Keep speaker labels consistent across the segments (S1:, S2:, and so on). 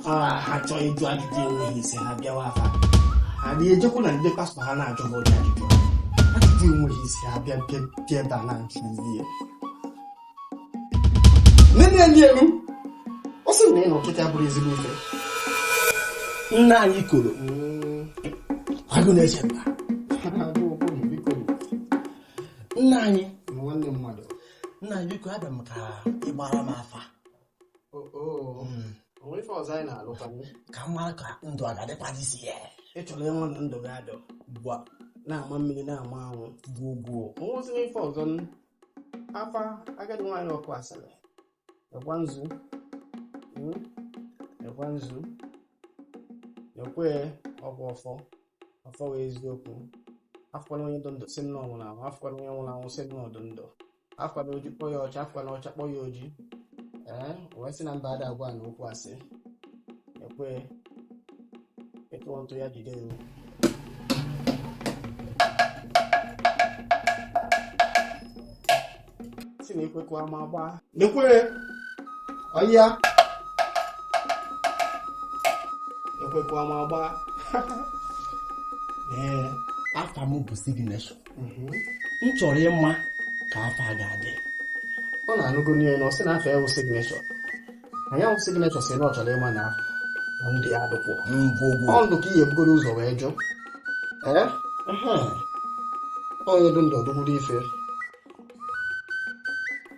S1: ha chọọ ịjụ ajụjụ enweghị isi ha bịawa afa ha dị ejekwu na ndị pastọ ha na-ajụ ha ụdị ajụjụ ajụjụ enweghị isi ha bịa bịa ebe a na-ajụ ihe nne ndị elu ọ sị na ị na ọchịcha bụrụ ezigbo ife nna anyị Okoro agụ na-eche mba nna anyị nna anyị
S2: biko
S1: abịa m ka ị gbara m afa Oh, oh.
S2: Mm. O nwere ife ọzọ anyị na-alụtanwu ka m mara
S1: ka ndụ a ga-adịkwadịzi ya ị chọrọ ịnwụ na ndụ gị a dị ugbu a na-ama mmiri na-ama anwụ gwuo gwuo o nwezi ife ọzọ
S2: n- afa agadi nwaanyị ọkụ asịrị ekwa nzu Mm. ekwa nzu ekwe ọgwụ ọfọ ọfọ nwe eziokwu afụkwala onye dị ndụ sị na ọ nwụrụ anwụ afụkwala onye nwụrụ anwụ sị na ọ dị ndụ afụna oji kpọọ ya ọcha afụna ọcha kpọọ ya oji ee wee sị na mba ada agwa na okwu asị ekwe ịtụ ntụ ya jide ewu sị na ekwekwa ma gbaa nekwere
S1: ọya ekwekwa ma gbaa ee afa m bụ Signature mhm. m chọrọ ịma ka afọ a ga-adị
S2: unu anụgo n'ihe na ọ sị na afa ya wụ Signature ya wụ Signature sị na ọ chọrọ ịma na afọ ndị ya dụkwụ ọ ndụ ka ihe bugoro ụzọ wee jụ ee onye dụ ndụ ọdụgburu ife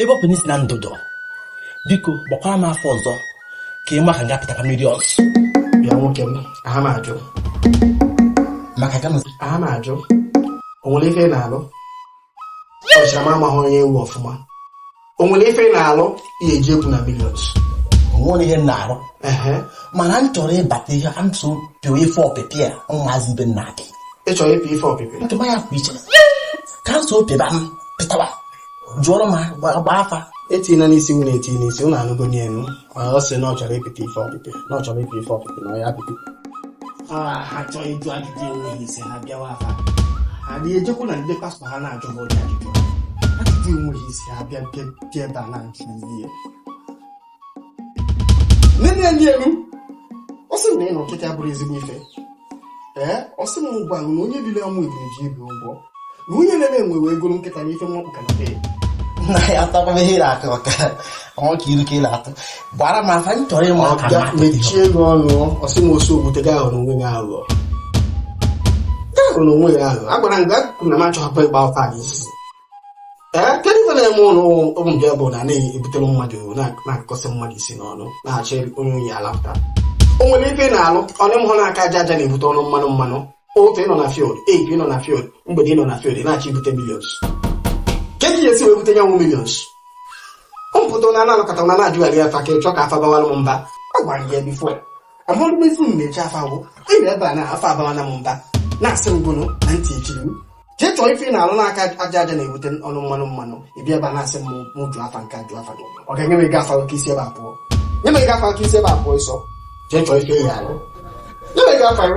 S3: ebe ọ bụ na ị sị na ndụ dụ biko gbakwara m afa ọzọ ka ị ma ka nga pụtara mmiri ọzọ bịa nwoke
S2: m aha m ajụ
S3: maka ka aha m ajụ
S2: o nwere ife ị na-alụ ọchịchara m amaghị onye ị wụ ọfụma o nwere ife ị na-alụ ihe eji ekwu na millions o nwere
S3: ihe m na-arụ mana m chọrọ ịbata ihe ka m so pịa ife ọpịpị a ụmụazị ibe m na-apị ị chọrọ ịpị ife
S2: ọpịpị ntụma ya kwa iche
S3: ka m so pịba m pịtawa jụọrọ m gbaa afa etina n'isi
S2: unu eti n'isi unu anụgo nye enu ma ọ sị na ọ chọrọ ịpịta ife ọpịpị na ọ chọrọ ịpịta ife ọpịpị na ya apịpị
S1: ha chọọ ịjụ ajụjụ enweghị isi ha bịawa afa ha dị ejekwu na ndị pastọ ha na-ajụ ha ụdị ajụjụ ajụjụ enweghị isi ha bịa bịa bịa ebe a na-ajụ ihe nne ndị elu ọ sị na ị na ọchịcha bụrụ ezigbo ife ee ọ sị m gwa na onye biri ọnwụ ebiri ji ibi ụgwọ na onye na-eme enwe wee goro nkịta na ife mmọkpụ ka na bee na ya
S3: atakwa ihe ị na-akọ maka ọnwa ka ilu ka ị na-atụ gbara m afa m chọrọ ịma ka Bịa, mechie gị
S2: ọnụ ọ sị m osu ogbute gị aghọrọ onwe gị aghụghọ gị aghọrọ onwe gị aghụghọ agwara m gị akụkụ na m achọghị ịgba afa gị isi kedu ife na-eme ụlọ ụmụ nke bụ na na-ebutere mmadụ na-akụkọsị mmadụ isi n'ọnụ na-achọ onye unu ya-alapụta o nwere ife na-alụ ọnụ mhụ na aka aja aja na-ebute ọnụ mmanụ mmanụ ụtụtụ ị nọ na field ehihie ị nọ na field mgbede ị nọ na field na-achọ ibute millions kedu ihe e si wee bute nya bụ millions mpụta na na-anakọta na na-ajụgharị afa ka ị chọ ka afa bawara m mba a gwara gị ya before a mụrụ m ezi m na-eji afa gwụ ịrị ebe a na afa abawana m mba na-asị m gụnụ na ntị echiri m jee chọọ ife ị na-alụ na aka aja aja na-ebute ọnụ mmanụ mmanụ ị bịa ebe a na-asị m mụ jụọ afa nke ajụ afa gị ọ ga-enye m ego afa ka i si ebe a pụọ nye m ego afa ka i si ebe a pụọ ọsịsọ jee chọọ ife ị ya-alụ nye m ego afa gị